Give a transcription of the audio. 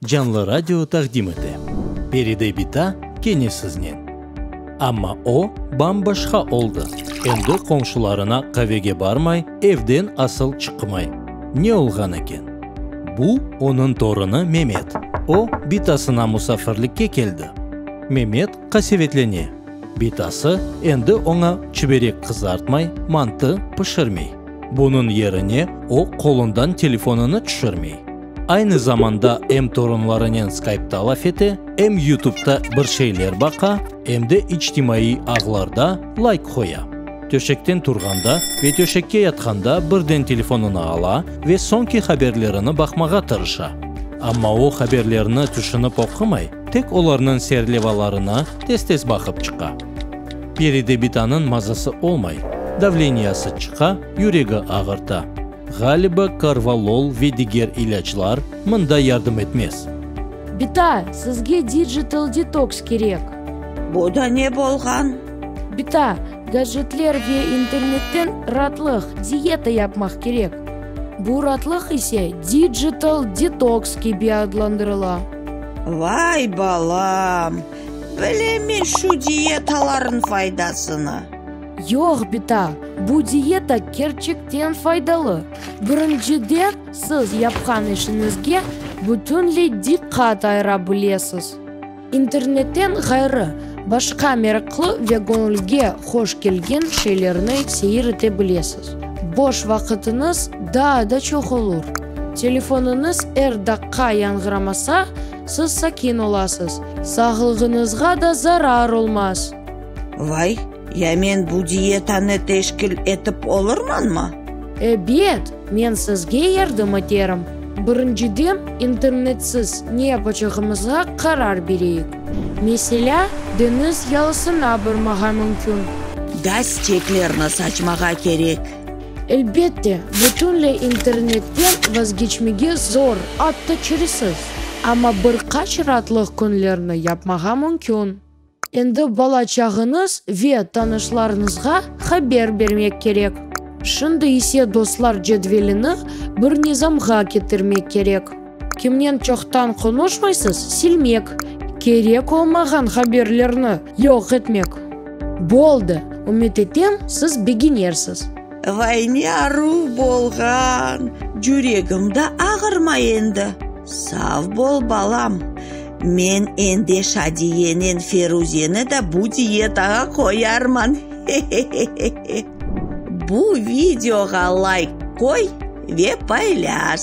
Canlı Radio taqdim ete. Peride bita kene siznen. Amma o, bam-başqa oldı, endi qomşularına qavege barmay, evden asıl çıqmay. Ne olğan eken? Bu, onıñ torunı Memet. O, bitasına musafirlikke keldi. Memet qasevetlene. Bitası endi oña çiberek qızartmay, mantı pişirmey. Bunıñ yerine o, qolundan telefonını tüşürmey. Aynı zamanda em torunlarınen skaipta laf ete, em yutubda bir şeyler baqa, em de içtimaiy ağlarda layk qoya. Töşekten turğanda ve töşekke yatqanda birden telefonını ala ve soñki haberlerini baqmağa tırışa. Amma o haberlerni tüşünip oqumay, tek olarnıñ serlevalarına tez-tez baqıp çıqa. Peri Debitanıñ mazası olmay, davleniyası çıqa, yüregi ağırta. Ğaliba korvalol ve diger ilâclar mında yardım etmez. Bita, sizge digital detoks kerek. Bu da ne bolğan? Bita, gadjetler ve internetten ratlıq, dieta yapmaq kerek. Bu ratlıq ise digital detoks kibi adlandırıla. Vay balam! Bilemen şu dietalarnıñ faydasını. Yoq, bita, bu dieta kerçekten faydalı. Birinciden, siz yapqan işiñizge bütünley diqqat ayıra bilesiz. İnternetten ğayrı, başqa meraqlı ve göñülge hoş kelgen şeylerni seyir ete bilesiz. Boş vaqıtıñız daa da çoq olur. Telefonıñız er daqqa yañğıramasa, siz sakin olasız, sağlığıñızğa da zarar olmaz. Vay, ya men bu dietanı teşkil etip olurmanmı? Ebet, men sizge yardım eterim. Birinciden, internetsiz ne yapacağımızğa qarar bereyik. Meselâ, deñiz yalısına barmağa mümkün. Gaz çeklerni saçmağa kerek. Elbette, bütünley internetten vazgeçmege zor, atta çaresiz. Amma bir qaç raatlıq künlerni yapmağa mümkün. Endi bala-çağıñız ve tanışlarıñızğa haber bermek kerek. Şimdi ise dostlar cedvelini bir nizamğa ketirmek kerek. Kimnen çoqtan qonuşmaysız, silmek. Kerek olmağan haberlerni yoq etmek. Boldı, ümüt etem, siz beginersiz. Vayne aruv bolğan. Cüregim da ağırma endi. Sav bol balam. Men ende Şadiyenen Feruzeni da bu diyetağa qoyarman hehehehe. Bu videoğa layk qoy ve paylâş.